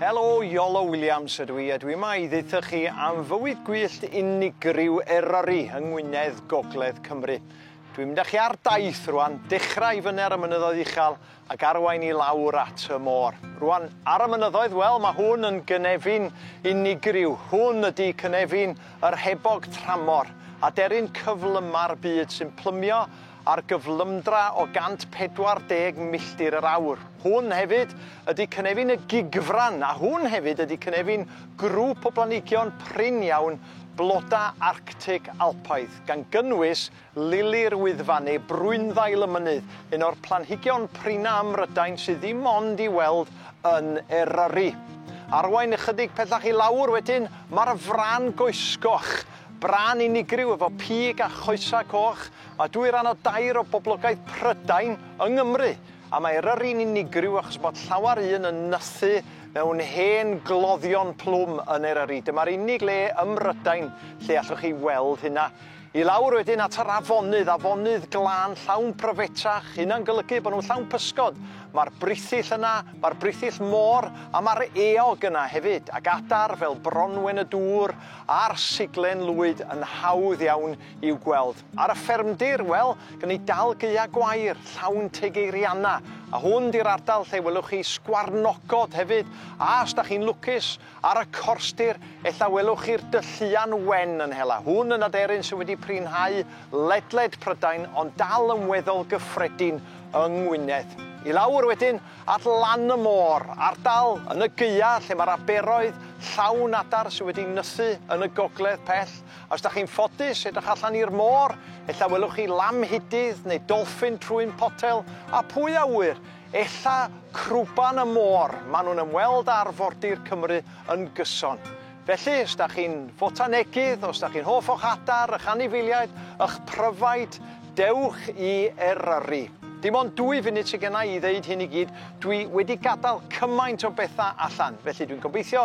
Helo, Iolo Williams ydw i, a dwi yma i ddeitha chi am fywyd gwyllt unigryw Eryri yng Ngwynedd, Gogledd Cymru. Dwi'n mynd â chi ar daith rwan, dechrau i fyny ar y mynyddoedd uchel ac arwain i lawr at y môr. Rwan, ar y mynyddoedd, wel, mae hwn yn gynefin unigryw. Hwn ydy cynefin yr hebog tramor, aderyn cyflyma'r byd sy'n plymio ar gyflymdra o 140 milltir yr awr. Hwn hefyd ydy cynefin y gigfran, a hwn hefyd ydy cynefin grŵp o blanhigion prin iawn blodau Arctig Alpaidd, gan gynnwys lili'r Wyddfa neu brwynddail y mynydd, un o'r planhigion prinau ym Mhrydain sydd ddim ond i'w weld yn Eryri. Arwain ychydig pellach i lawr wedyn, mae'r fran goesgoch, bran unigryw efo pig a choesau coch, Mae dwy ran o dair o boblogaeth Prydain yng Nghymru, a mae Eryri'n unigryw achos bod llawer un yn nythu mewn hen gloddion plwm yn Eryri. Dyma'r unig le ym Mrydain lle allwch chi weld hynna. I lawr wedyn at yr afonydd, afonydd glân llawn pryfetrach, hynna'n golygu bod nhw'n llawn pysgod. Mae'r brithyll yna, mae'r brithyll môr a mae'r eog yna hefyd, ac adar fel bronwen y dŵr a'r siglen lwyd yn hawdd iawn i'w gweld. Ar y ffermdir, wel, gan ni dal gaeau gwair, llawn teg eirianna, a hwn 'di'r ardal lle welwch chi sgwarnogod hefyd, a os da chi'n lwcus, ar y corstir, ella welwch chi'r dylluan wen yn hela. Hwn yn aderyn sydd wedi prinhau ledled Prydain, ond dal yn weddol gyffredin yng Ngwynedd. I lawr wedyn, at lan y môr, ardal yn y gaeau lle mae'r aberoedd llawn adar sydd wedi nythu yn y gogledd pell, Os da chi'n ffodus edrych allan i'r môr, ella welwch chi lamhidydd neu dolffin trwyn potel, a pwy a ŵyr, ella crwban y môr, maen nhw'n ymweld â arfordir Cymru yn gyson. Felly, os da chi'n fotanegydd, os da chi'n hoff o'ch adar, y'ch anifeiliaid, y'ch pryfaid, dewch i Eryri. Dim ond dwy funud sydd genna i i ddeud hyn i gyd, dwi wedi gadael cymaint o bethau allan, felly dwi'n gobeithio